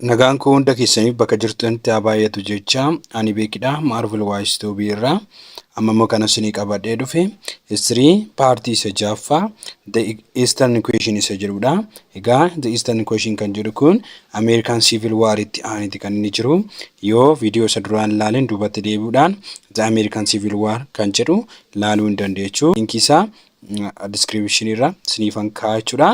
Nagaan koo hunda keessaniif bakka jirtanitti haa baay'atu jecha ani beekidha Marvel Wise Tube irraa amma immoo kana isinii qabadhee dhufe history paartii isa jaaffaa the eastern question isa jedhudha egaa the eastern question kan jedhu kun American Civil War itti aaniti kan inni jiru yoo viidiyoo isa duraan laaleen duubatti deebi'uudhaan the American Civil War kan jedhu laaluu hin dandeechu linkiisaa description irra siniifan kaa'aa jechuudha.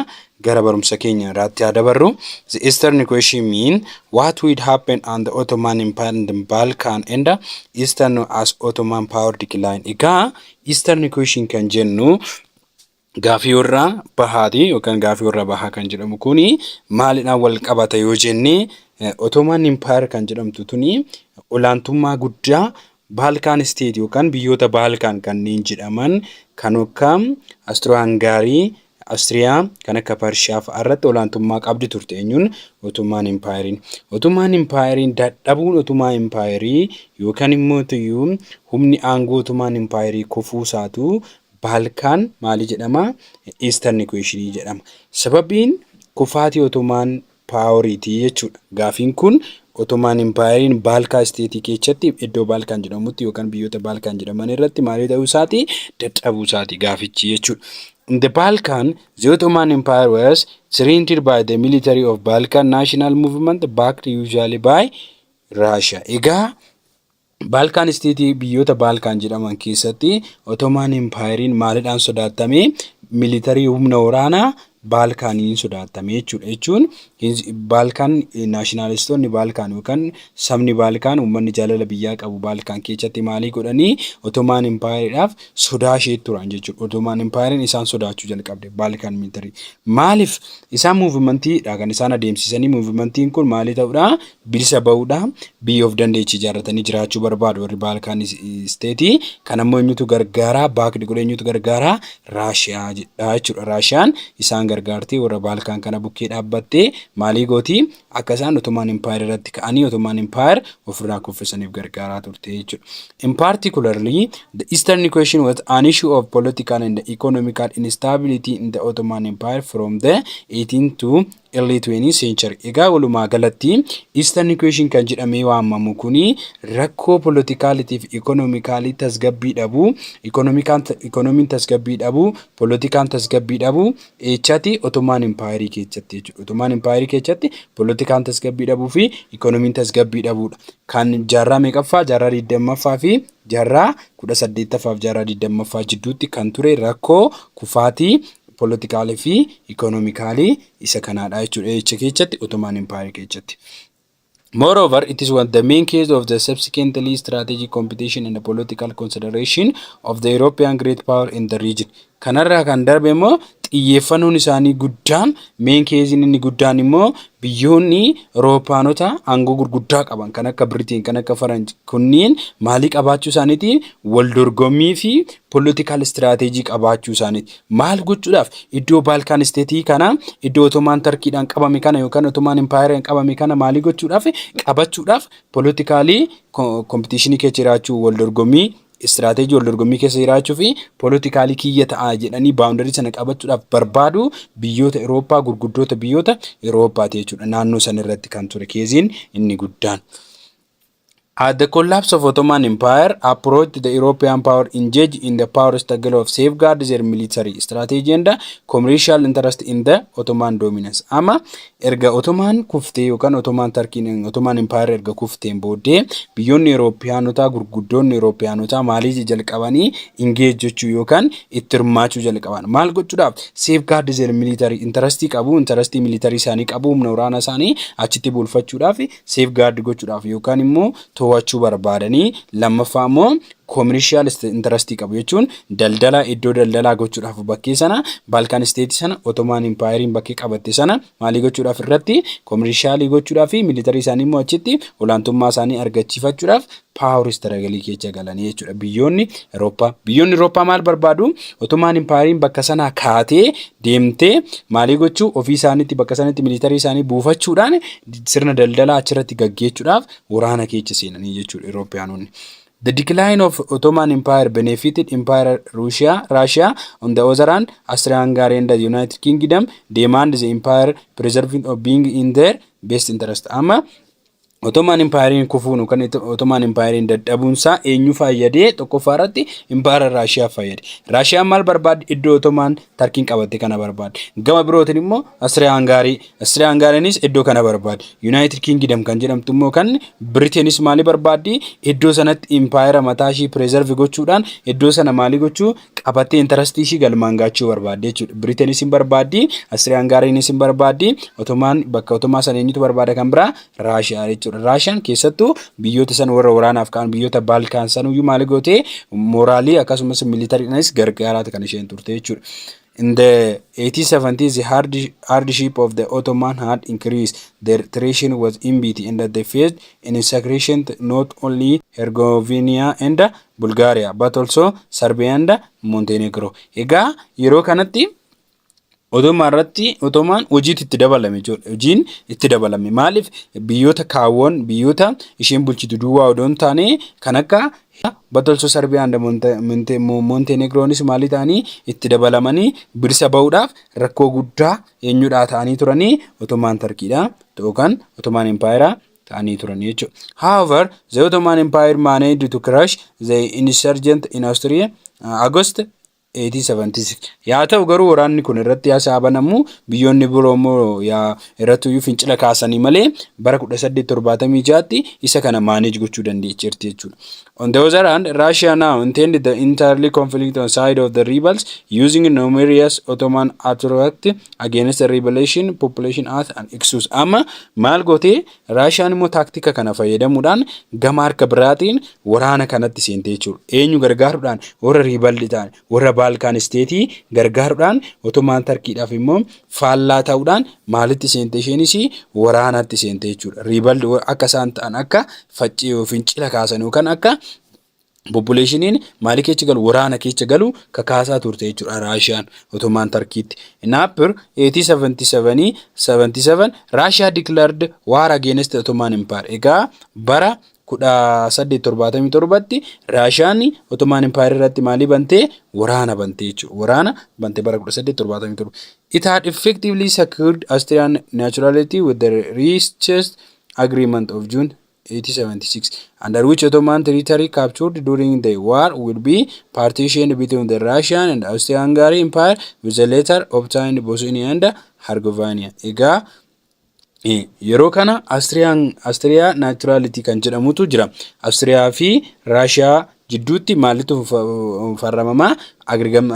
Gara barumsa keenya irraatti haa dabarru. The Eastern Equation mean what would happen on the Ottoman Empire and Balkan and Eastern as Ottoman power decline. Egaa Eastern Equation kan jennu gaafii warra bahaati yookaan gaafii warra bahaa kan jedhamu kuni maalidhaan wal qabata yoo jenne Ottoman Empire kan jedhamtu tuni olaantummaa guddaa Baalkaan State yookaan biyyoota Baalkaan kanneen jedhaman kan akka Astroo-Hangaarii, Austria, kan akka Pershiyaa fa'a irratti olaantummaa qabdi turte eenyuun Otomaan Impaayeriin. Otomaan Impaayeriin dadhabuun Otomaa Impaayerii yookaan immoo tuyyuu humni aangoo Otomaan Impaayerii kufuu isaatu Baalkaan maali jedhama Eastern Equation jedhama. Sababiin kufaatii Otomaan paaworiiti jechuudha. Gaafiin kun Otomaan Impaayeriin Baalkaa Isteetii keechatti iddoo Baalkaan jedhamutti yookaan biyyoota Baalkaan jedhaman irratti maalii ta'uu isaati dadhabuu isaati gaafichi jechuudha. In the Balkan, the Ottoman Empire was surrendered by the military of Balkan National Movement backed usually by Russia. Egaa Baalkaan isteetii biyyoota Baalkaan jedhaman keessatti Otomaan Impaayeriin maalidhaan sodaattame? Militarii humna waraanaa Baalkaaniin sodaattame jechuudha. Jechuun Baalkaan naashinaalistoonni Baalkaan yookaan sabni Baalkaan uummanni jaalala biyyaa qabu Baalkaan keessatti maalii godhanii Otomaan Impaayeriidhaaf sodaa ishee turan jechuudha. Otomaan Impaayeriin isaan sodaachuu jalqabde Baalkaan militarii. Maaliif isaan muuvimantiidha kan isaan adeemsisanii muuvimantiin kun maalii ta'uudha? bilisa ba'uudha. Biyya of dandeechi ijaarratanii jiraachuu barbaadu warri Baalkaan isteetii. Kan ammoo eenyutu gargaaraa baakdi godhe eenyutu gargaaraa Raashiyaa jedha jechuudha. Raashiyaan isaan gargaartee warra Baalkaan kana bukkee dhaabbattee maalii gooti akka isaan Otomaan Impaayir irratti ka'anii Otomaan Impaayir ofirraa kuffisaniif gargaaraa turte jechuudha. In particularly, the Eastern equation was an issue of political and economical instability in the Ottoman Empire from the 18th to Early 20th century. Egaa walumaa galatti Eastern Equation kan jedhamee waamamu kun rakkoo polotikaaliti fi ikonomikaalii tasgabbii dhabu, ikonomiin tasgabbii dhabu, polotikaan tasgabbii dhabu eechati Ottoman Empire keessatti jechuudha. Ottoman Empire keessatti polotikaan tasgabbii dhabuu fi ikonomiin tasgabbii dhabuudha. Kan jaarraa meeqaffaa, jaarraa 20ffaa fi Jaarraa 18ffaa fi jaarraa 20ffaa jidduutti kan ture rakkoo kufaatii polotikaalii fi ikoonomikaalii isa kanaadha jechuudha eecha keessatti Ottoman Empire keessatti. Moreover, it is one the main case of the subsequently strategic competition and political consideration of the European great power in the region. Kanarraa kan darbe immoo xiyyeeffannoon isaanii guddaan meen keeziin inni guddaan immoo biyyoonni Awurooppaanota aangoo gurguddaa qaban kan akka Biriteen kan akka Faranj kunniin maalii qabaachuu isaaniiti wal dorgommii fi poolitikaal istiraateejii qabaachuu isaaniiti. Maal gochuudhaaf iddoo Baalkaan isteetii kana iddoo Otomaan Tarkiidhaan qabame kana yookaan Otomaan Impaayeraan qabame kana maalii gochuudhaaf qabachuudhaaf poolitikaalii kompitiishinii keessa jiraachuu wal dorgommii Istiraateejii wal dorgommii keessa jiraachuu fi poolitikaalii kiyya ta'a jedhanii baawundarii sana qabachuudhaaf barbaadu biyyoota Irooppaa gurguddoota biyyoota Irooppaati jechuudha. Naannoo san irratti kan ture keeziin inni guddaan. At the collapse of Ottoman Empire approached the European power engage in the power struggle of safeguard their military strategy and commercial interest in the Ottoman dominance. Ama Erga Otomaan kuftee yookaan Otomaan Tarkiin Otomaan Impaayerri erga kufteen booddee biyyoonni Erooppiyaanotaa gurguddoonni Erooppiyaanotaa maalii jalqabanii ingeej jechuu yookaan itti hirmaachuu jalqaban. Maal gochuudhaaf? Seef gaardi zeer miliitarii intarastii qabu intarastii miliitarii isaanii qabu humna waraana isaanii achitti bulfachuudhaaf seef gaardi gochuudhaaf yookaan immoo to'achuu barbaadanii lammaffaa immoo Commercial interest qabu jechuun daldala iddoo daldalaa gochuudhaaf bakkee sana Balkan state sana Ottoman Empire bakkee qabatte sana maalii gochuudhaaf irratti commercial gochuudhaaf fi military isaanii immoo achitti olaantummaa isaanii argachiifachuudhaaf power struggle keessa galanii jechuudha biyyoonni Eurooppaa. Biyyoonni Eurooppaa maal barbaadu? Ottoman Empire bakka sanaa kaatee deemtee maalii gochuu ofii isaaniitti bakka sanatti military isaanii buufachuudhaan sirna daldalaa achirratti gaggeechuudhaaf waraana keessa seenanii jechuudha Eurooppaanonni. The Decline of Ottoman Empire Benefited Empire Russia, Russia on the other hand, Austria-Hungary and the United Kingdom demand the empire preserving of being in their best interest. Amma Ottoman Empire kufuun yookaan Ito- Ottoman Empire dadhabuunsaa eenyu fayyadee tokkoffaa irratti Empire Russia fayyade. Russia maal barbaadde iddoo Ottoman Tarkiin qabatte kana barbaadde. Gama birootiin immoo Austria-Hungary Austrian-Hungarynis iddoo kana barbaadi. United Kingdom kan jedhamtu immoo kan Britain's maalii barbaaddi? Iddoo sanatti impaayera mataa ishii preserve gochuudhaan iddoo sana maalii gochuu qabattee interest ishii galmaan gaachuu barbaaddi jechuudha. Britain's hin barbaaddi, Austrian-Hungarynis hin barbaaddi, Ottoman bakka Ottoman sana eenyutu barbaada kan biraa? Russia jechuudha. Russian keessattuu biyyoota san warra waraanaaf ka'an biyyoota Balkan sanuyyuu maalii gootee moraalii akkasumas militariidhaanis gargaaraati kan isheen turte jechuudha. In the 1870s, the hard, hardship of the Ottoman had increased. Their treason was enmity, and they faced an insecration not only Herzegovina and Bulgaria, but also Serbia and Montenegro. Egaa yeroo kanatti Ottoman irratti Ottoman hojiitti itti dabalame jechuudha. Hojiin itti dabalame. Maaliif biyyoota kaawwan biyyoota isheen bulchitu duwwaa odoo hin taane kan akka Hidha Batolsoo Sarbiyaa and Montenegroonis maalii ta'anii itti dabalamanii bilisa ba'uudhaaf rakkoo guddaa eenyudhaa ta'anii turanii Ottoman Tarkiidhaa yookaan Ottoman Empire ta'anii turanii jechuudha. However, the Ottoman Empire managed to crush the insurgent in Austria August 1876. Yaa ta'u garuu waraanni kun irratti yaa sa'a banamu biyyoonni biroo immoo yaa irrattuyyuu fincila kaasanii malee bara 1876tti isa kana manage gochuu dandeecheerti jechuudha. On the other hand, Russia now intended the entirely conflict on side of the rebels using numerous Ottoman attract against the rebellion population as an excuse. Amma maal gootee Raashiyaan immoo taaktika kana fayyadamuudhaan gama harka biraatiin waraana kanatti seentee jechuudha. Eenyu gargaaruudhaan warra riibaldi ta'an warra Baalkaan isteetii gargaaruudhaan otomaan tarkiidhaaf immoo faallaa ta'uudhaan maalitti seentee isheenis waraanatti seentee jechuudha. Riibaldi akka isaan ta'an akka faccee yookiin cila kaasan yookaan akka Poppuleeshiniin maali keecha galu waraana keecha galu kakaasaa turte jechuudha Raashiyaan Otomaan Tarkiitti. Naapir 1877 Raashiyaa declared war against Ottoman Empire. Egaa bara 1877tti Raashiyaan Ottoman Empire irratti maalii bantee waraana bantee jechuudha. Waraana bante bara 1877. It had effectively secured Austrian neutrality with the reached agreement of June 1876. under which Ottoman territory captured during the war will be partitioned between the Russian and Austria-Hungary Empire with the later obtained Bosnia and Herzegovina. Egaa eh, yeroo kana Austria Austria Naturality kan jedhamutu jira. Austria fi Russia jidduutti maalitu farramama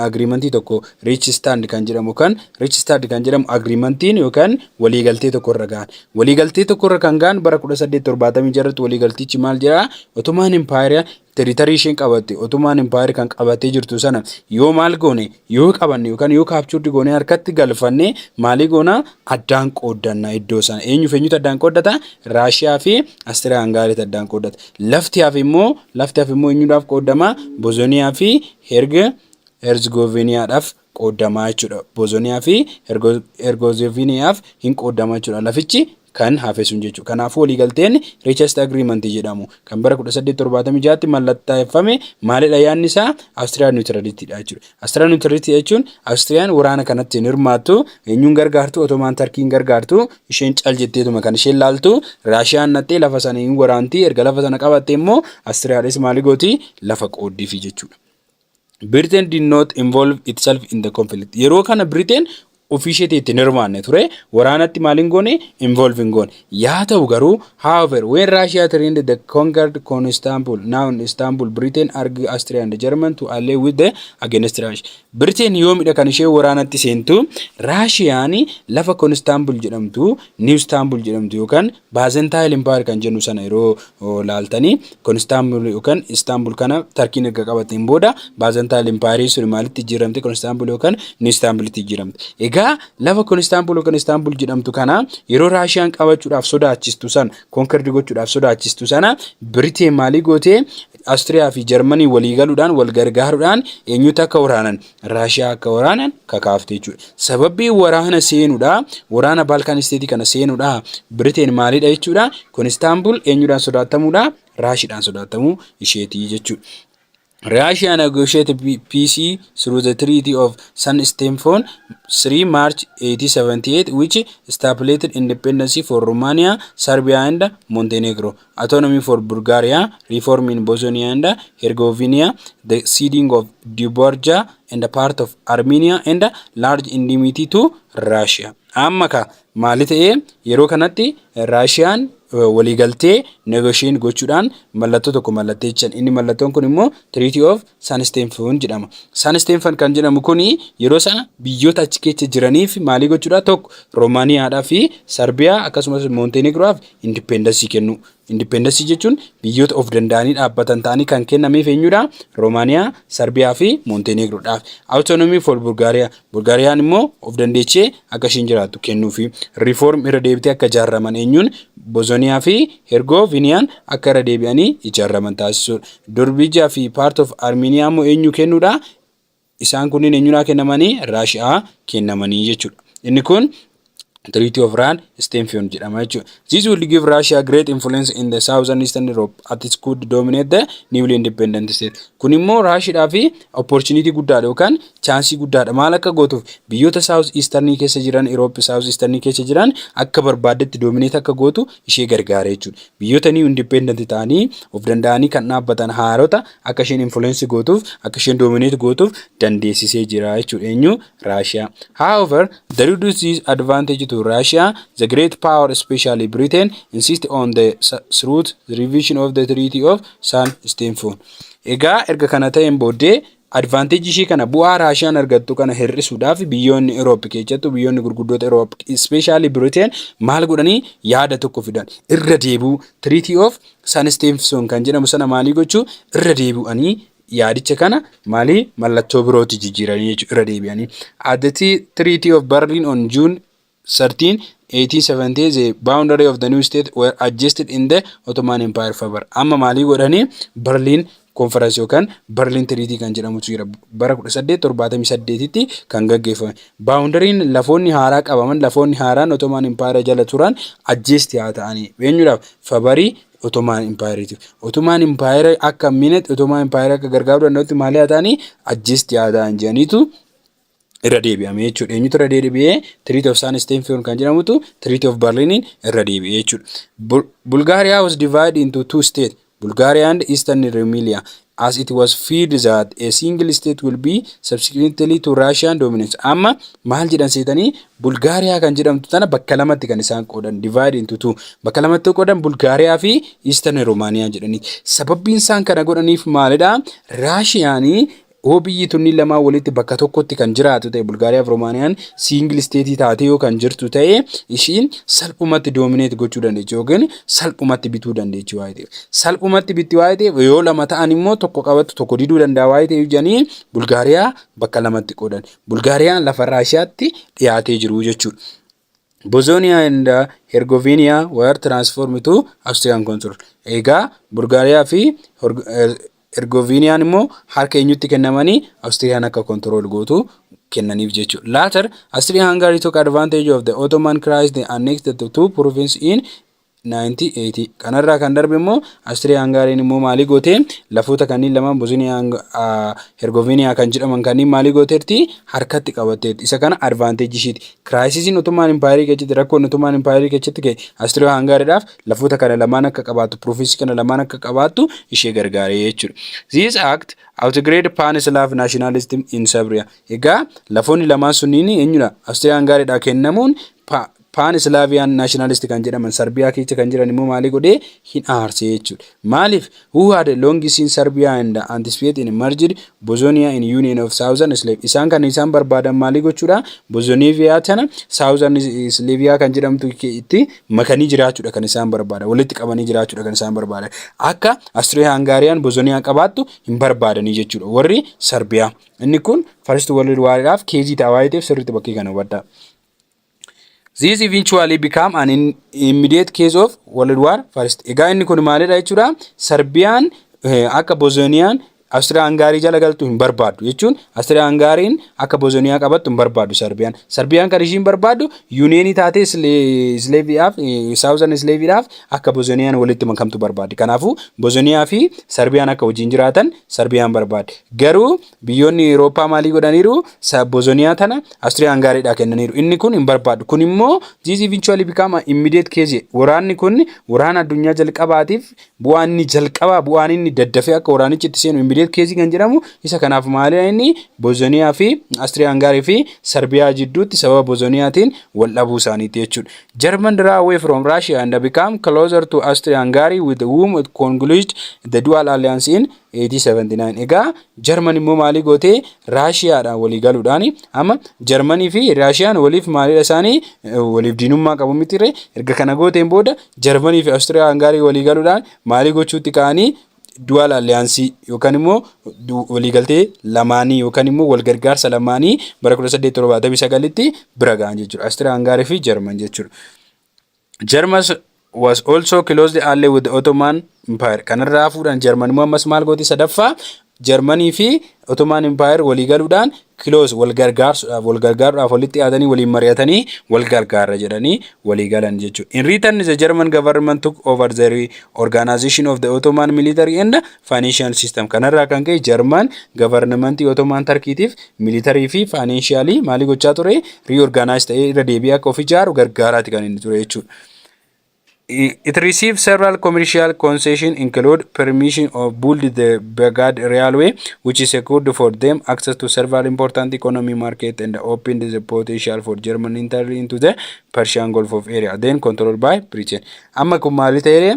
agreementii tokko riich stand kan jedhamu kan riich stand kan jedhamu agreementiin yookaan waliigaltee tokko irra gahan waliigaltee tokko irra kan gahan bara 1876 irratti waliigaltichi maal jedha otomaan impaayera tiritarii isheen qabatte otomaan impaayera kan qabattee jirtu sana yoo maal goone Yoo qabanne yookaan yoo captured goonee harkatti galfanne maalii goona addaan qooddanna iddoo sana. Eenyuuf eenyutu addaan qooddata? Raashiyaa fi Astiriyaa Hangaariitu addaan qooddata. Lafti hafe immoo lafti hafe immoo eenyudhaaf qooddama? Bozoniyaa fi Herg Herzgoviniyaadhaaf qooddamaa jechuudha. Bozoniyaa fi Hergozoviniyaaf hin qooddamaa jechuudha. Lafichi kan hafe sun jechuudha. Kanaafuu waliigalteen Richest Agreement jedhamu kan bara 1876tti mallattaeffame maalidha yaadni isaa Austrian Neutrality dha jechuudha. Austrian Neutrality jechuun Austrian waraana kanatti hin hirmaattu, eenyuun gargaartu, Ottoman Turkey hin gargaartu, isheen cal jetteetuma kan isheen laaltu, Raashiyaan naxxee lafa sana hin waraanti, erga lafa sana qabatte immoo Austriaadhis maali gooti lafa qooddiifi jechuudha. Britain did not involve itself in the conflict. Yeroo kana Britain ofii isheetii itti hin hirmaanne ture. Waraanatti maal hin goone? Involve hin goone. Yaa ta'u garuu, however, when Russia trained the conquered Constantinople, now in Istanbul, Britain urged Austria and German to ally with the against Russia. Britain yoomidha kan ishee waraanatti seentu, Raashiyaan lafa Constantinople jedhamtu, New Istanbul jedhamtu yookaan Baazentaayil Impaayar kan jennu sana yeroo laaltanii kun Istaanbul yookaan Istaanbul kana Tarkiin erga qabateen booda Baazentaayil Impaayarii sun maalitti jijjiiramte kun Istaanbul yookaan Niw Istaanbulitti jijjiiramte. Egaa lafa kun Istaanbul yookaan Istaanbul jedhamtu kana yeroo Raashiyaan qabachuudhaaf sodaachistu sana konkerdi gochuudhaaf sodaachistu sana Biriteen maalii gootee Astiriyaa fi Jarmanii walii galuudhaan wal gargaaruudhaan eenyutu akka waraanan Raashiyaa akka waraanan kakaafte jechuudha. Sababbii waraana seenuudha. Waraana Baalkaan isteetii kana seenuudha. Biriteen maalidha jechuudha. Kun Istaanbul eenyudhaan sodaattamuudha? Raashiidhaan sodaattamuu isheetii jechuudha. Russia negotiated peace through the Treaty of San Stefan 3 March 1878 which stipulated independence for Romania, Serbia and Montenegro. Autonomy for Bulgaria, Reform in Bosnia and Herzegovina, the ceding of Dobruja and part of Armenia and large indemnity to Russia. Amma ka maali ta'e yeroo kanatti Raashiyaan waliigaltee negotiate gochuudhaan mallattoo tokko mallatteessan. Inni mallattoon kun immoo Treaty of Sanisteenfan jedhama. Sanisteenfan kan jedhamu kun yeroo sana biyyoota achi keessa jiraniif maalii gochuudha? Tokko Roomaaniyaadhaa fi Sarbiyaa akkasumas Moonteenigroof indippeendasii kennu. Indippeendasii jechuun biyyoota of danda'anii dhaabbatan ta'anii kan kennameef eenyudha? Roomaaniyaa, Sarbiyaa fi Moonteenigroodhaaf. Awutoonomii for Bulgaariyaa. Bulgaariyaan immoo of dandeechee akka ishiin jiraattu kennuufi. Reform irra deebitee akka ijaarraman eenyuun Bosoniyaa fi Hergoviniyaan akka irra deebi'anii ijaarraman taasisuudha. Dorbija fi part of Armenia immoo eenyuu kennuudha? Isaan kunniin eenyuudhaa kennamanii? Raashi'aa kennamanii jechuudha. Inni kun Treaty of Run Stemfion jedhama jechuudha. This will give Russia great influence in the southern eastern Europe at it could dominate the newly independent state. Kun immoo Raashiidhaa fi opportunity guddaadha yookaan chaansii guddaadha. Maal akka gootuuf biyyoota south eastern keessa jiran Europe south eastern keessa jiran akka barbaaddetti dominate akka gootu ishee gargaara jechuudha. Biyyoota new independent ta'anii of danda'anii kan dhaabbatan haarota akka isheen influence gootuuf akka isheen dominate gootuuf dandeessisee jira jechuudha. Eenyu Russia. However, the reduced this advantage to Russia, the great power, especially Britain, insist on the through the revision of the Treaty of San Stefan. Egaa erga kana ta'een booddee advantage ishii kana bu'aa Raashiyaan argattu kana hir'isuudhaaf biyyoonni Europe keessattuu biyyoonni gurguddoota Europe especially Britain maal godhanii yaada tokko fidan irra deebi'u Treaty of San Stefan kan jedhamu sana maalii gochuu irra deebi'anii yaadicha kana maalii mallattoo birootti jijjiiranii jechuudha irra deebi'anii. At the Treaty of Berlin on June 13, 1870 the boundary of the new state were adjusted in the Ottoman Empire favor. Amma maalii godhanii Berlin conference yookaan Berlin Treaty kan jedhamutu jira. Bara 1878tti kan gaggeeffame. Boundary'n lafoonni haaraa qabaman lafoonni haaraan Ottoman Empire jala turan adjust haa ta'anii. Eenyuudhaaf? Fabarii Otomaan Impaayeriiti. Otomaan Impaayera akka minet Otomaan Impaayera akka gargaaruu danda'utti maal yaa ta'anii ajjeest yaa ta'an jedhaniitu irra deebi'ame jechuudha. Eenyutu irra deebi'ee Treaty of San Steenfiyon kan jedhamutu Treaty of Berlinin irra deebi'ee jechuudha. Bulgaariyaa was divided into two states Bulgaariyaa and Eastern Rumelia. as it was feared that a single state will be subsequently to Russian dominance. Amma maal jedhan seetanii Bulgaariyaa kan jedhamtu tana bakka lamatti kan isaan qoodan divide into two bakka lamatti qoodan Bulgaariyaa fi Eastern Romania jedhanii sababbiin isaan kana godhaniif maalidha Raashiyaanii yoo biyyi tunni lamaa walitti bakka tokkotti kan jiraatu ta'e Bulgaariyaa fi Romaaniyaan siingil isteetii taatee yoo kan jirtu ta'e ishiin salphumatti doomineet gochuu dandeechi yookiin salphumatti bituu dandeechi waa'ee ta'eef salphumatti bitti waa'ee ta'eef yoo lama ta'an immoo tokko qabatu tokko diduu danda'a waa'ee ta'eef jedhanii bulgaariyaa bakka lamatti qoodan bulgaariyaan lafa raashiyaatti dhiyaatee jiru jechuudha. Bosnia and Herzegovina were transformed to Austrian control. Egaa Bulgaariyaa fi Hergoviiniyaan immoo harka eenyutti kennamanii Awustiriyaan akka kontirool gootu kennaniif jechuudha. Later, Austria-Hungary took advantage of the Ottoman crisis they annexed the two provinces in 1980. Kanarraa kan darbe immoo Austria-Hungariin immoo maalii gootee lafoota kanneen lamaan Bosnia Hergoviiniyaa kan jedhaman kanneen maalii gooteerti harkatti qabatteerti. Isa kana advantage ishiiti. Kiraayisisiin Ottoman Impaayerii keessatti rakkoon Ottoman Impaayerii keessatti ka'e Austria-Hungaridhaaf lafoota kana lamaan akka qabaattu province kana lamaan akka qabaattu ishee gargaaree jechuudha. This act outgrade pan Slav nationalism in Serbia. Egaa lafoonni lamaan sunniin eenyudha? Austrian gaariidha kennamuun paan islaaviyaan naashinaalisti kan jedhaman sarbiyaa keessa kan jiran immoo maalii godhee hin aarsee jechuudha. Maaliif Who had a long seen Serbia and anticipate in merged Bozonia in union of Southern Slav isaan kan isaan barbaadan maalii gochuudha Bozonivia tana Southern Slavia kan jedhamtu itti makanii jiraachuudha kan isaan barbaadan walitti qabanii jiraachuudha kan isaan barbaadan akka Austria Hungarian Bozonia qabaattu hin barbaadanii jechuudha warri Serbia inni kun first world war dhaaf keezii ta'a waa'ee ta'eef sirriitti bakkee kana hubadhaa This eventually become an in- immediate case of World War First. Egaa inni kun maalidha jechuudha? Sarbiyaan eh, akka Bosoniyaan Awustiriyaa Hangaarii jala galtu hin barbaaddu jechuun Awustiriyaa Hangaariin akka Bosoniyaa qabattu hin barbaaddu Sarbiyaan. Sarbiyaan kan ishiin barbaaddu yuuniyeenii taatee Isleeviyaaf Saawuzan Isleeviidhaaf akka Bosoniyaan walitti makamtu barbaaddi. Kanaafuu Bosoniyaa fi Sarbiyaan akka wajjin jiraatan Sarbiyaan barbaaddi. Garuu Biyyoonni Eurooppaa maalii godhaniiru? Saabozoniyaa tana Austria Hangaariidhaa kennaniiru. Inni kun hin barbaadu. Kun immoo this eventually become an immediate case. Waraanni kun waraana addunyaa jalqabaatiif bu'aa inni jalqabaa bu'aan inni daddafee akka waraanichi itti seenu immediate case kan jedhamu isa kanaaf maalidha inni Bozoniyaa fi Austria Hangaarii fi Sarbiyaa jidduutti sababa Bozoniyaatiin wal dhabuu isaaniitti jechuudha. German draw away from Russia and become closer to Austria Hungary with whom it concluded the dual alliance in 1879 egaa jarman immoo maalii gootee raashiyaadhaan walii galuudhaan amma jarmanii fi raashiyaan waliif maaliidha isaanii waliif diinummaa qabu mitire erga kana gooteen booda jarmanii fi awustiriyaa hangaarii walii galuudhaan maalii gochuutti ka'anii du'aal alliyaansii yookaan immoo waliigaltee lamaanii yookaan immoo walgargaarsa lamaanii bara 1879tti bira ga'an jechuudha awustiriyaa hangaarii fi jarman jechuudha. Jarmas was also closely allied with the Ottoman Empire. Kanarraa hafuudhaan Jarman immoo ammas maal gooti sadaffaa Jarmanii fi Ottoman Empire walii galuudhaan close wal gargaarsuudhaaf wal gargaaruudhaaf walitti yaadanii waliin mari'atanii wal gargaarra jedhanii walii galan jechuudha. In return the German government took over the organization of the Ottoman military and Financial system. Kanarraa kan ka'e Jarman gavarnamantii Ottoman Tarkiitiif militarii fi faayineenshiyaalii maalii gochaa ture? Reorganize ta'ee irra deebi'ee akka of ijaaru gargaaraati kan inni ture jechuudha. It received several commercial concessions include permission of build the Baghdad Railway which secured for them access to several important economy market and opened the potential for German entry into the Persian Gulf of area then controlled by Britain. Amma kun maali ta'ee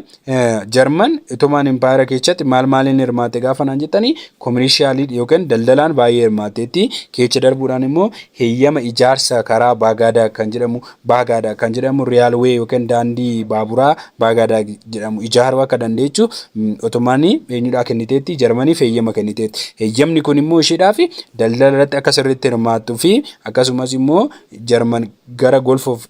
Jarman Otomaan Impaayera keessatti maal maaliin hirmaatte gaafa naan jettanii kominishiyaalii yookiin daldalaan baay'ee hirmaatteetti keecha darbuudhaan immoo heeyyama ijaarsa karaa Baagaadaa kan jedhamu Baagaadaa kan jedhamu riyaalwee yookiin daandii baaburaa Baagaadaa jedhamu ijaaruu akka dandeechu Otomaan eenyudhaa kenniteetti Jarmaniif heeyyama kenniteetti heeyyamni kun immoo isheedhaa fi daldala irratti akka sirriitti hirmaattuu fi akkasumas immoo Jarman gara Golf of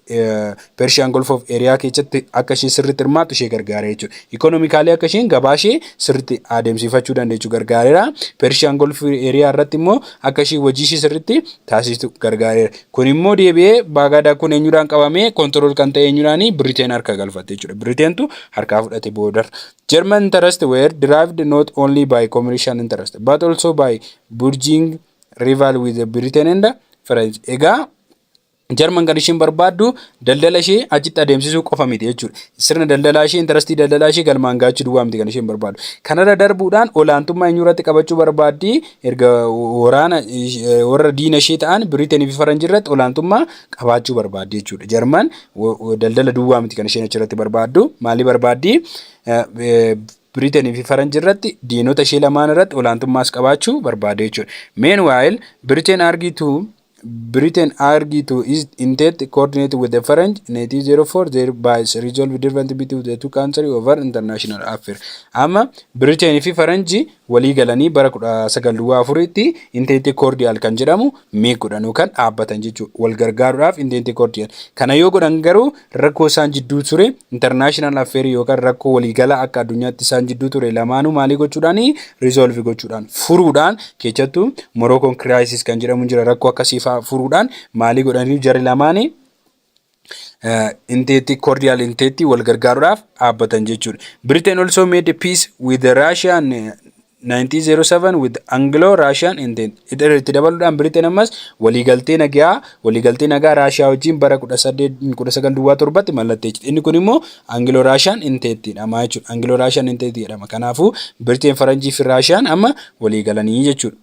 Persian Gulf of Area keessatti akka isheen sirriitti hirmaattu ishee gargaara jechuudha. Ikonomikaalee akka isheen gabaa ishee sirriitti adeemsifachuu dandeessu gargaareera. Persian Gulf Area irratti immoo akka isheen hojii ishee sirriitti taasistu gargaareera. Kun immoo deebi'ee Baagaadaa kun eenyudhaan qabamee kontirool kan ta'e eenyudhaani Biriteen harka galfatte jechuudha. Biriteentu harkaa fudhate boodarra. German interest were derived not only by commercial interest but also by burgeoning rival with Britain and French. Egaa Jarman kan ishiin barbaaddu daldala ishee achitti adeemsisuu qofa miti jechuudha. Sirna daldalaa ishee, intarastii daldalaa ishee galmaan gaachuu duwwaa miti kan isheen barbaaddu. Kanarra darbuudhaan olaantummaa eenyurratti qabachuu barbaaddi? Erga waraana warra diina ishee ta'an Biriiteenii fi Faranjii irratti olaantummaa qabaachuu barbaaddi jechuudha. Jarman daldala duwwaa miti kan isheen achirratti barbaaddu. Maalii barbaaddi? Biriiteenii fi Faranjii irratti diinota ishee lamaan irratti olaantummaas qabaachuu barbaaddi jechuudha. Meanwhile, Britain argued to Britain agree to its intent to coordinate with the French 1904 thereby resolve different between the two countries over international affairs. Amma Britain fi Faranji walii galanii bara 1904tti intente cordial kan jedhamu mee godhanu kan dhaabbatan jechuudha. Wal gargaaruudhaaf intente cordial. Kana yoo godhan garuu Rakkoo isaan jidduu ture international affair yookaan rakkoo waliigalaa akka addunyaatti isaan jidduu ture lamaanuu maalii gochuudhaan resolve gochuudhaan furuudhaan keessattuu Moroccan crisis kan jedhamu jira rakkoo akkasii fa'aa furuudhaan maalii godhanii jarri lamaanii inteetti cordial inteetti wal gargaaruudhaaf dhaabbatan jechuudha. Britain also made peace with Russia and 1907 with Anglo Russian intent Idar itti dabaluudhaan Britain ammas waliigaltee nagaa waliigaltee nagaa Raashiyaa wajjin bara 1907tti mallatteessite. Inni kun immoo Anglo Russian intent jedhama jechuudha. Anglo Russian intent jedhama. Kanaafuu Britain Faranjii fi Raashiyaan amma waliigalanii jechuudha.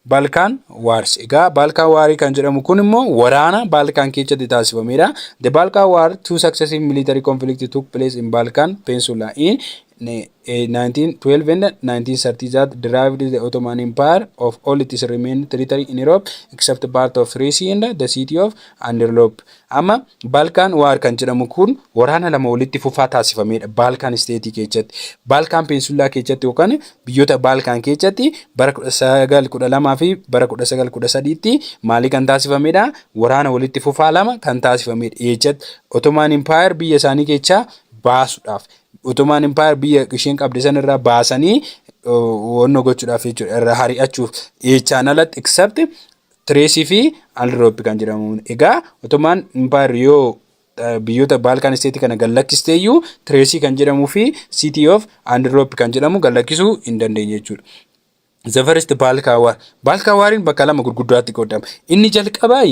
Balkaan Wars. Egaa Balkaan Waarii kan jedhamu kun immoo waraana Balkaan keessatti taasifameedha. The Balkan War, two successive military conflicts took place in Balkan Peninsula in 1912 and 1930 that derived the Ottoman Empire of all its remaining territory in Europe except part of Thrace and the city of Anderlop. Amma Balkan War kan jedhamu kun waraana lama walitti fufaa taasifamedha Balkan State keessatti. Balkan Peninsula keessatti yookaan biyyoota Balkan keessatti bara 1912 fi bara 1913tti maalii kan taasifamedha waraana walitti fufaa lama kan taasifamedha. Eechatti Ottoman Empire biyya isaanii keessaa baasuudhaaf Otomaan Impaayar biyya isheen qabde san irraa baasanii wanno gochuudhaaf jechuudha irraa hari'achuuf jechaan alatti except Tireesii fi Alrooppi kan jedhamu. Egaa Otomaan Impaayar yoo biyyoota Baalkaan isteetii kana gallakkistee iyyuu Tireesii kan jedhamuu fi City of Alrooppi kan jedhamu gallakkisuu hin dandeenye jechuudha. The first Balka War. Balka Wariin bakka lama gurguddaatti qoodama. Inni jalqabaa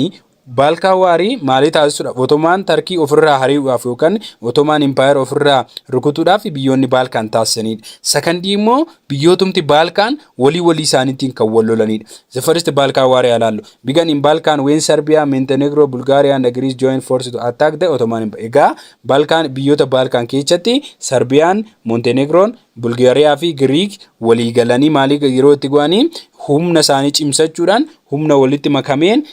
Balka Warii maalii taasisuudhaaf Otomaan Tarkii ofirraa harii'uudhaaf yookaan Otomaan Impaayera ofirraa rukutuudhaaf biyyoonni Baalkaan taasisanidha. Sakandii immoo biyyootumti Baalkaan walii walii isaaniitiin kan wal lolanidha. The first Balka Warii alaallu. Began in Balkan when Serbia, Montenegro, Bulgaria and Greece joined forces to attack the Ottoman Empire. Egaa Balkaan biyyoota Baalkaan keessatti Sarbiyaan, Montenegroon, Bulgaariyaa fi Giriik walii galanii maalii yeroo itti go'anii humna isaanii cimsachuudhaan humna walitti makameen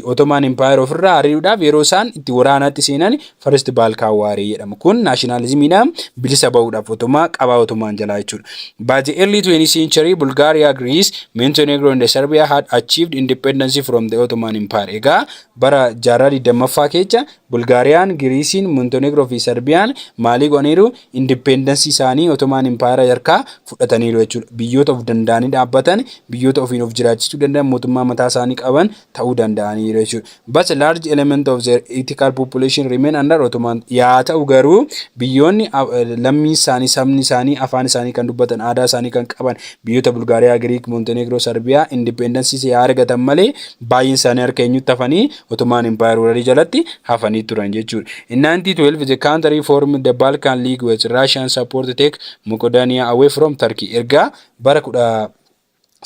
Ottoman Empire ofirraa ari'uudhaaf yeroo isaan itti waraanaatti seenan First Balkan War jedhama. Kun naashinaalizimiidhaan bilisa ba'uudhaaf Ottomaa qabaa Ottoman jalaa jechuudha. By the early 20th century, Bulgaria, Greece, Montenegro and Serbia had achieved independence from the Ottoman Empire. Egaa bara jaarraa 20ffaa keessa Bulgaariyaan, Giriisiin, Montenegro fi Serbiyaan maalii go'aniiru? Independence isaanii Ottoman Empire yarkaa fudhataniiru jechuudha. Biyyoota of danda'anii dhaabbatan, biyyoota ofiin of jiraachisuu danda'an, mootummaa mataa isaanii qaban ta'uu danda'aniiru jechuudha. But a large element of their ethical population remain under Ottoman. Yaa ta'u garuu biyyoonni lammiin isaanii, sabni isaanii, afaan isaanii kan dubbatan, aadaa isaanii kan qaban biyyoota Bulgaariyaa, Giriik, Montenegro, Sarbiyaa independence yaa argatan malee baay'een isaanii harka eenyutti hafanii Ottoman Empire wararii jalatti hafanii turan jechuudha. In 1912 the country formed the Balkan League with Russian support take Moqodania away from Turkey. Ergaa bara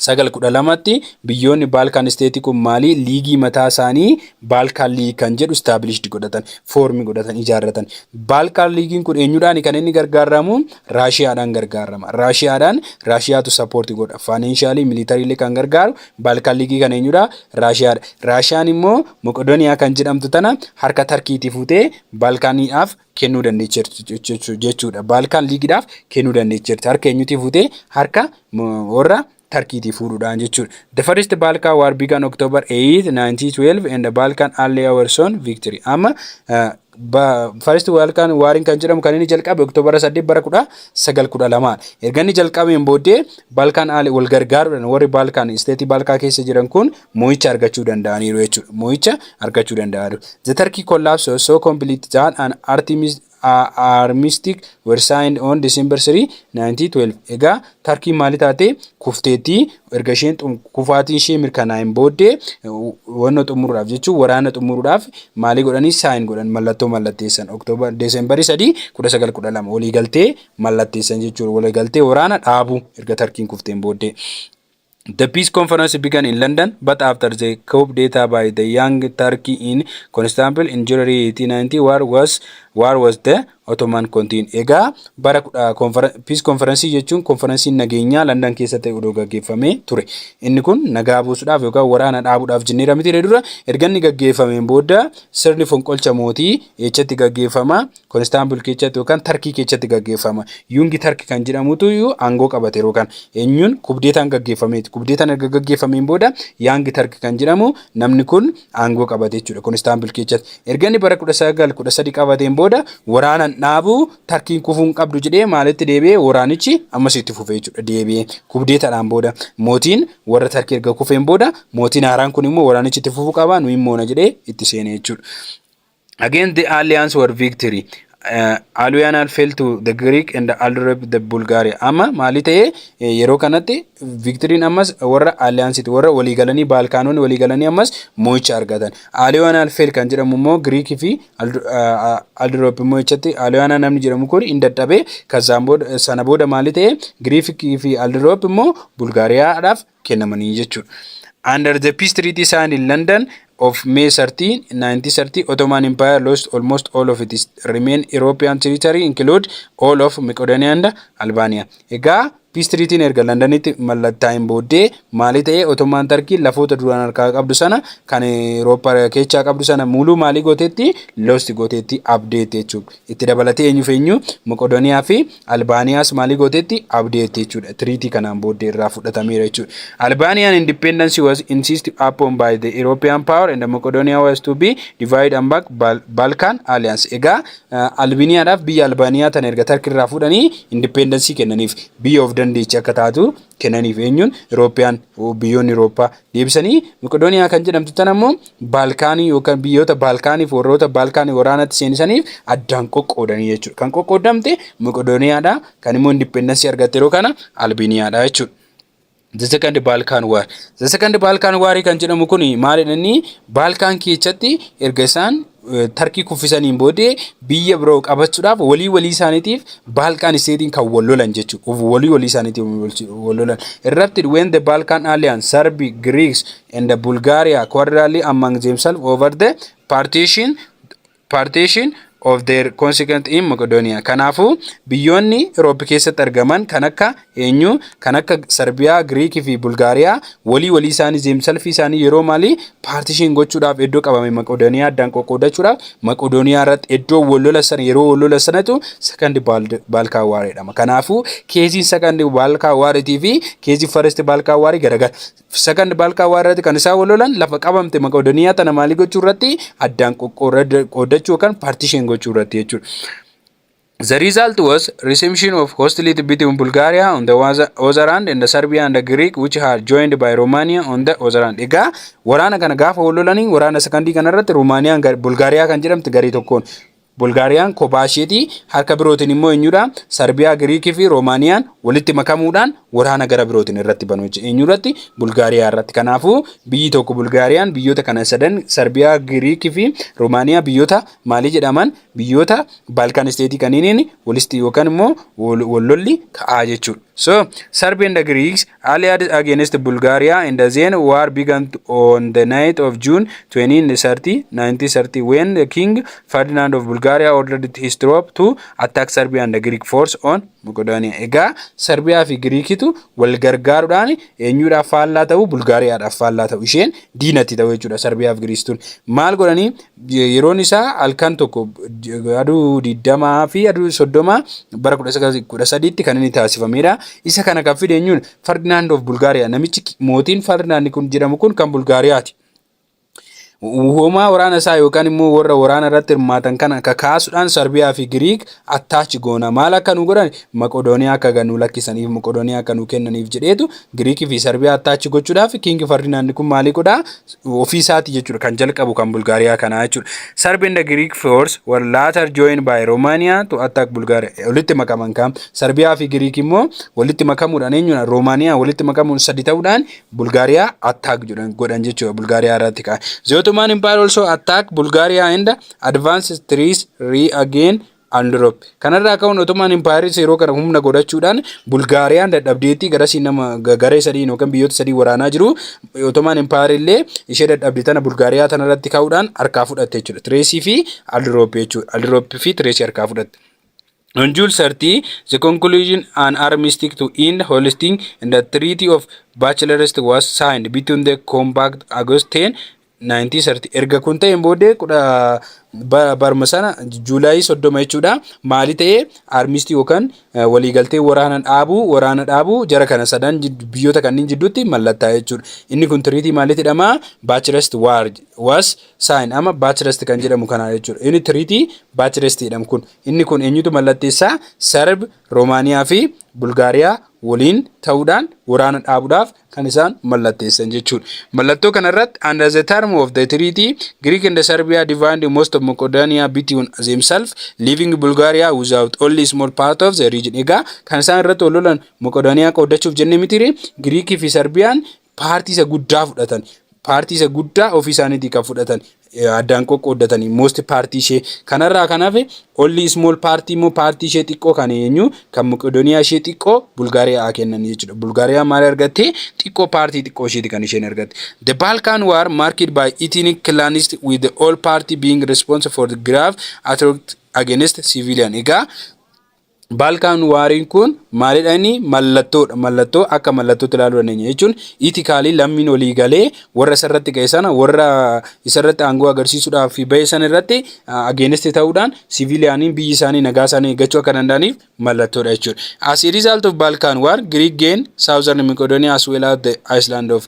1912tti biyyoonni Balkan state kun maalii liigii mataa isaanii Balkan League kan jedhu established godhatan, form godhatan, ijaarratan. Balkan League'n kun eenyudhaan kan inni gargaaramu? Raashiyaadhaan gargaarama. Raashiyaadhaan Raashiyaatu support godha. Financially, militarily kan gargaaru Baalkaan Liigii kan eenyudha? Raashiyaadha. Raashiyaan immoo Moqodoniyaa kan jedhamtu tana harka Tarkiitii fuutee Baalkaaniidhaaf kennuu dandeecheerti jechuudha. Baalkaan Liigiidhaaf kennuu dandeecheerti. Harka eenyutii fuutee? Harka warra Tarkiitii fuudhuudhaan jechuudha. The first Balkan war began October 8, 1912 and the Balkan Early Hours on victory. Amma First World kan waariin kan jedhamu kan inni jalqabe Oktoobara 8 bara 1912 erga inni jalqabeen booddee Balkaan Aale wal gargaaruudhaan warri Balkaan isteetii Balkaa keessa jiran kun mo'icha argachuu danda'aniiru jechuudha. Mo'icha argachuu danda'aniiru. The Turkey collapse was so complete that an Artemis armistice were signed on December 3, 1912. Egaa Tarkiin maali taate kufteetti erga isheen xum- kufaatiin ishee mirkanaa'een booddee wanna xumuruudhaaf jechuun waraana xumuruudhaaf maalii godhanii saayin godhan mallattoo mallatteessan oktoobar deesembarii 3 1912 waliigaltee mallatteessan jechuudha waliigaltee waraana dhaabuu erga tarkiin kufteen booddee. The peace conference began in London, but after the coup d'etat by the young Turkey in Constantinople in January 1890, war was, war was the Ottoman Kontiin. Egaa bara kudha konfera- Peace Conference jechuun konferensiin nageenyaa Landan keessa ta'e odoo gaggeeffamee ture. Inni kun nagaa buusuudhaaf yookaan waraana dhaabuudhaaf jenneera miti ree dura erga inni gaggeeffameen booda sirni fonqolcha mootii eechatti gaggeeffama Konistaanbul keechatti yookaan Tarkii keechatti gaggeeffama. Yuungi Tark kan jedhamutu iyyuu aangoo qabate yeroo kana. Eenyuun kubdeetaan gaggeeffameeti. Kubdeetaan erga gaggeeffameen booda Yaangi Tark kan jedhamu namni kun aangoo qabate jechuudha. Konistaanbul keessatti erga inni bara 1913 qabateen booda waraanaan dhaabuu tarkiin kufuu hin qabdu jedhee maalitti deebi'ee waraanichi ammas itti fufee jechuudha. Deebi'ee kubdeetadhaan booda mootiin warra tarkii erga kufeen booda mootiin haaraan kun immoo waraanichi itti fufuu qaba nuyi moona jedhee itti seenee jechuudha. Against the alliance were victory. Uh, Aluyanal fell to the Greek and Alrep the Bulgaria. Amma maali ta'e eh, yeroo kanatti victory'n ammas warra alliance'ti warra waliigalanii Baalkaanonni waliigalanii ammas mo'icha argatan. Aluyanal fell kan jedhamu immoo Greek fi Alrep immoo jechatti Aluyana namni jedhamu kun hin dadhabe. Kazaan booda sana booda maali ta'e Greek fi Alrep immoo Bulgaariyaadhaaf kennamanii jechuudha. Under the peace treaty signed in London of May 13, 1930, Ottoman Empire lost almost all of its remain European territory include all of Macedonia and Albania. Egaa peace treaty erga Londonitti mallattaa'een booddee maalii ta'ee Ottoman Turkey lafoota duraan harkaa qabdu sana kan Europa keechaa qabdu sana muluu maalii gooteetti lost gooteetti abdeetti jechuudha. Itti dabalatee eenyuuf eenyu Macedonia fi Albaaniyaas maalii gooteetti? Abdeetti jechuudha. Tiriitii kanaan booddee irraa fudhatameera jechuudha. Albaaniyaan independence was insisted upon by the European power and Macedonia was to be divided among Bal- Balkan alliance. Egaa uh, Albiniyaadhaaf biyya Albaaniyaa tana erga Tarki irraa fudhanii independence kennaniif biyya of dandeechi akka taatu kennaniif eenyuun European biyyoonni Eurooppaa Deebisanii Maqedooniyaa kan jedhamtu tana immoo Baalkaanii yookaan biyyoota Baalkaaniif warroota Baalkaanii waraanatti seenisaniif addaan qoqqoodanii jechuudha. Kan qoqqoodamte Maqedooniyaadha. Kan immoo indippendansii argatte yeroo kana Albeeniyaadha jechuudha. The second Balkan war. The second Balkan war kan jedhamu kun maalidha inni Balkan keessatti erga isaan Tarkii kuffisaniin boodee biyya biroo qabachuudhaaf walii walii isaaniitiif Baalkaan isteetiin kan wal lolan jechuudha. Walii walii isaaniitiif wal lolan. Erupted when the Balkan alliance, Serbi, Greeks and the Bulgaria quarrelly among themselves over the partition, partition of their consequent in Macedonia. Kanaafuu biyyoonni Europe keessatti argaman kan akka Eenyu? Kan akka Sarbiyaa, Giriik fi Bulgaariyaa walii walii isaanii zeem salfii isaanii yeroo maalii paartishiin gochuudhaaf eddoo qabame Maqodooniyaa addaan qoqqoodachuudhaaf Maqodooniyaa irratti eddoo wal lola sana yeroo wal lola sanatu sakandi baalkaa waar jedhama. Kanaafuu keesiin sakandi baalkaa waaritii fi keesii faresti baalkaa waarii garagara. Sakandi baalkaa waar irratti kan isaan wal lolan lafa qabamte Maqodooniyaa tana maalii gochuu irratti addaan qoqqoodachuu yookaan paartishiin gochuu irratti jechuudha. The result was resumption of hostility between Bulgaria on the Waza- Ozarand and the Serbia and the Greek which had joined by Romania on the Ozarand. Egaa waraana kana gaafa wal lolanii waraana sekondii kana irratti Rumaaniyaan gar- Bulgaariyaa kan jedhamte garee tokkoon Bulgaariyaan kophaa isheetii harka birootiin immoo eenyudha Sarbiyaa Giriikii fi Roomaaniyaan walitti makamuudhaan waraana gara birootiin irratti banuu jechuudha. Eenyurratti Bulgaariyaa irratti. Kanaafuu biyyi tokko Bulgaariyaan biyyoota kana sadan Sarbiyaa Giriikii fi Roomaaniyaa biyyoota maalii jedhaman biyyoota Balkan state kaniiniin walisti yookaan immoo wallolli ka'aa jechuudha. So Serbia and the Greeks allied against Bulgaria and then war began on the night of June 2030, 1930 when the King Ferdinand of Bulgaria ordered his troop to attack Serbia and the Greek force on Macedonia. Egaa Serbiyaa fi Giriikitu wal gargaaruudhaan eenyuudhaaf faallaa ta'u Bulgaariyaadhaaf faallaa ta'u isheen diinatti ta'u jechuudha Serbiyaa fi Giriistuun. Maal godhanii Yeroon isaa halkan tokko aduu digdamaa fi aduu soddoma bara 1913tti kan inni taasifamedha. Isa kana kan fide eenyuun Ferdinand of Bulgaria namichi mootiin Ferdinand kun jedhamu kun kan Bulgaariyaati. Hoomaa waraana isaa yookaan immoo warra waraana irratti hirmaatan kana kakaasuudhaan Sarbiyaa fi Giriik attach goona maal akka nu godhan maqodooniyaa akka gad nu lakkisaniif maqodooniyaa akka nu kennaniif jedheetu giriikii fi sarbiyaa attach gochuudhaaf kiingi fardinaandi kun maalii godhaa ofii isaati jechuudha kan jalqabu kan bulgaariyaa kanaa jechuudha sarbi inda giriik foors war laatar jooyin baay roomaaniyaa tu attaak bulgaariyaa walitti makaman kaa sarbiyaa fi giriik immoo walitti makamuudhaan eenyuudha roomaaniyaa walitti makamuun sadi ta'uudhaan bulgaariyaa attaak godhan jechuudha bulgaariyaa irratti kaa zootumaan impaayar olsoo attaak bulgaariyaa inda Advance Stress Regain and Drop. Kanarraa ka'uun Ottoman Empires yeroo kana humna godhachuudhaan Bulgaariyaan dadhabdeetti garasii nama ga- garee sadiin yookaan biyyoota sadii waraanaa jiru. Ottoman Empire illee ishee dadhabde tana Bulgaariyaa tanarratti ka'uudhaan harkaa fudhatte jechuudha. Tireesii fi Aldroop jechuudha. Aldroop fi Tireesii harkaa fudhatte. On June 30, the conclusion an armistice to end Holstein and the Treaty of Bachelorist was signed between the Compact August 10 naayintii sarti erga kun ta'een booddee kudha ba- barma sana juulaayii soddoma jechuudha maali ta'e armisti yookaan eh, waliigaltee waraana dhaabuu waraana dhaabuu jara kana sadan jid- biyyoota kanneen jidduutti mallattaa'e jechuudha inni kun tiriitii maalitti jedhama baachirest waar was saayin ama baachirest kan jedhamu kana jechuudha inni tiriitii baachirest jedhamu kun inni kun eenyutu mallatteessaa sarb roomaaniyaa fi bulgaariyaa waliin ta'uudhaan waraana dhaabuudhaaf kan isaan mallatteessan jechuudha. Mallattoo kana irratti under the term of the treaty Greek and Serbia divined most of Macedonia between themselves leaving Bulgaria without only small part of the region. Egaa kan isaan irratti wal lolan Macedonia qoodachuuf jenne mitire Greek fi Serbiyaan paartii isa guddaa fudhatan. Paartii isa guddaa ofii isaaniitii kan fudhatan. addaan qoqqooddatanii most paartii ishee kanarraa kan hafe olli small paartii immoo paartii ishee xiqqoo kan eenyu kan muqidoniyaa ishee xiqqoo bulgaariyaa kennan jechuudha bulgaariyaa maal argatte xiqqoo paartii xiqqoo isheeti kan isheen argatte the balkan war marked by ethnic clanist with the all party being responsible for the grave atrocity against civilian egaa Baalkaan waariin kun maalidha inni mallattoodha. Mallattoo akka mallattootti ilaaluu dandeenya jechuun itikaalii lammiin olii galee warra isarratti ga'e sana warra isarratti aangoo agarsiisuudhaaf ba'e sana irratti ageeneste ta'uudhaan siviiliyaaniin biyyi isaanii nagaa isaanii eeggachuu akka danda'aniif mallattoodha jechuudha. As a result of Balkan war, Greek gained southern Macedonia as well as the Iceland of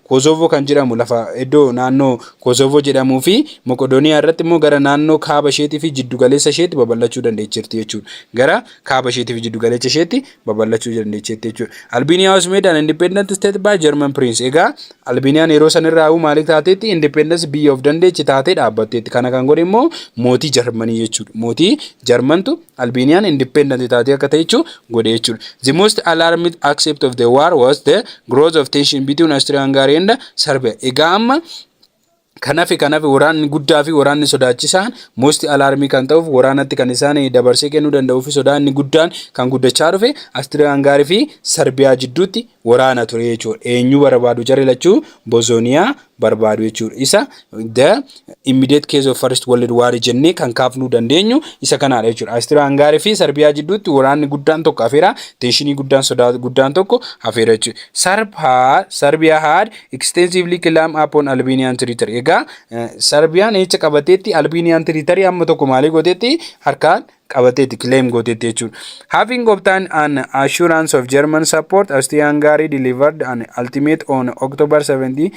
Kosovo kan jedhamu lafa iddoo naannoo Kosovo jedhamuu fi Moqodooniyaa irratti immoo gara naannoo kaaba isheetii fi jiddu galeessa isheetti babal'achuu dandeecheerti jechuudha. Gara kaaba isheetii fi jiddu galeessa isheetti babal'achuu dandeecheerti jechuudha. Albania was made an independent state by German prince. Egaa Albiniyaan yeroo san irraa huu maaliif taateetti independence biyya of dandeechi taatee dhaabbatteetti. Kana kan godhe immoo mootii Jarmanii jechuudha. Mootii Jarmantu Albanian independent taatee akka ta'echu godhe jechuudha. The most alarming aspect of the war was the growth of tension between Austria-Hungary and Serbia. Egaa amma kanafi kanafi waraanni guddaa fi waraanni sodaachisaan most alarmii kan ta'uuf waraanatti kan isaan dabarsee kennuu danda'uu fi sodaa inni guddaan kan guddachaa dhufe Austria-Hungary fi Serbia jidduutti waraana ture jechuudha. Eenyu barbaadu jarri lachuu Bosnia barbaadu jechuudha. Isa the immediate case of first world war jennee kan kaafnuu dandeenyu isa kanaadha jechuudha. Austria Hungary fi Sarbiyaa jidduutti waraanni guddaan tokko hafeera. Teenshinii guddaan sodaa guddaan tokko hafeera jechuudha. Sarb had, Serbia had extensively clam upon Albanian territory. Egaa Sarbiyaan eecha qabateetti Albanian territory amma tokko maalii gooteetti harkaan qabateeti claim gooteetti jechuudha. Having obtained an assurance of German support, Austria-Hungary delivered an ultimate on October 17,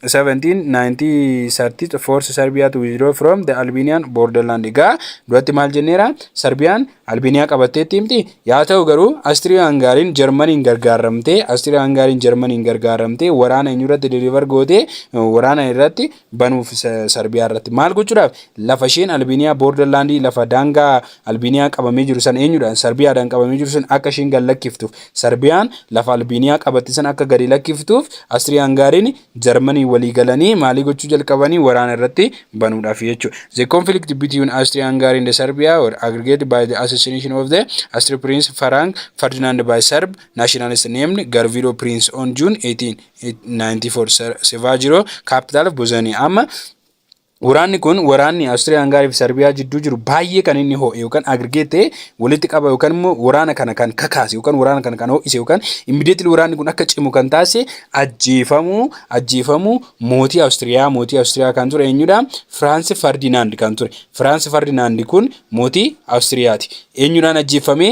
1930 force Serbia to withdraw from the Albanian borderland. Egaa duratti maal jenneera? Serbiyaan Albaniyaa qabatteetti himti. Yaa ta'u garuu Austria-Hungariin Jarmaniin gargaaramtee Austria-Hungariin Jarmaniin gargaaramtee waraana eenyurratti deliver gootee waraana irratti banuuf Sarbiyaa irratti maal gochuudhaaf lafa isheen Albeeniyaa boorder laandii lafa daangaa Albeeniyaa qabamee jiru san eenyudhaan Sarbiyaadhaan qabamee jiru san akka isheen gad lakkiftuuf Sarbiyaan lafa Albeeniyaa qabatte san akka gadi lakkiftuuf Astirii Hangaariin Jarmanii walii galanii maalii gochuu jalqabanii waraana irratti banuudhaaf jechuudha. The conflict between Austria Hungary and Serbia were aggregated by the assassination of the Austria Prince Frank Ferdinand by Serb nationalist named Garvilo Prince on June 18. 94 Sevajiro, capital of Bosnia. Amma waraanni kun waraanni Austriya Hungary fi Serbia jidduu jiru baay'ee kan inni ho'e yookaan aggregate ta'e walitti qaba yookaan immoo waraana kana kan kakaase yookaan waraana kana kan ho'ise yookaan immediately waraanni kun akka cimu kan taasise ajjeefamuu ajjeefamuu mootii Austriyaa mootii Austriyaa kan ture eenyudha Firaansi Ferdinand kan ture Firaansi Ferdinand kun mootii Austriyaati eenyudhaan ajjeeffamee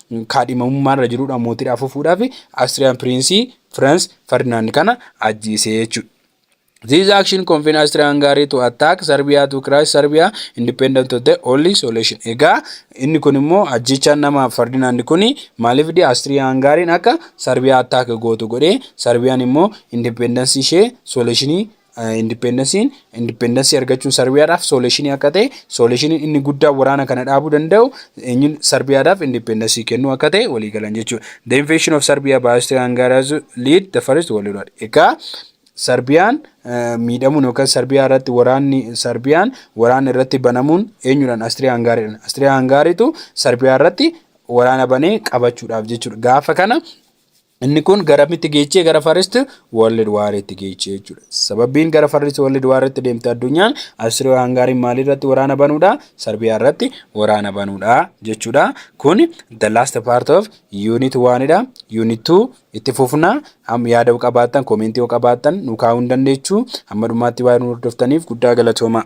kaadhimamummaa irra jirudha mootiidha afuufuudhaaf Austrian Prince France Ferdinand kana ajjeesee jechuudha. This action convened Austria-Hungary to attack Serbia to crush Serbia independent of the only solution. Egaa inni kun immoo ajjechaan nama Ferdinand kun maaliif di Austria-Hungary akka Serbia attack gootu godhee Serbiyaan immoo independence ishee solutionii Indipeendansiin indipeendansii argachuun Sarbiyaadhaaf sooleeshinii akka ta'e sooleeshiniin inni guddaa waraana kana dhaabuu danda'u eenyuun Sarbiyaadhaaf indipeendansii kennuu akka ta'e walii galan jechuudha. The invasion of Serbia by Austria-Hungarians lead the first world war. Egaa Sarbiyaan miidhamuun yookaan Sarbiyaa irratti waraanni Sarbiyaan waraanni irratti banamuun eenyuudhaan Austria-Hungaariidhaan. Austria-Hungaariitu Sarbiyaa irratti waraana banee qabachuudhaaf jechuudha. Gaafa kana Inni kun garamitti geechee gara First World War itti geechee jechuudha. Sababbiin gara First World War itti deemte addunyaan Austria Hungary maalii irratti waraana banuudha? Sarbiyaa irratti waraana banuudha jechuudha. Kun the last part of unit 1 dha. Unit 2 itti fufna. Amma yaada qabaattan koomeentii qabaattan nu kaa'uu hin dandeechu. Amma dhumaatti waan hordoftaniif guddaa galatoomaa.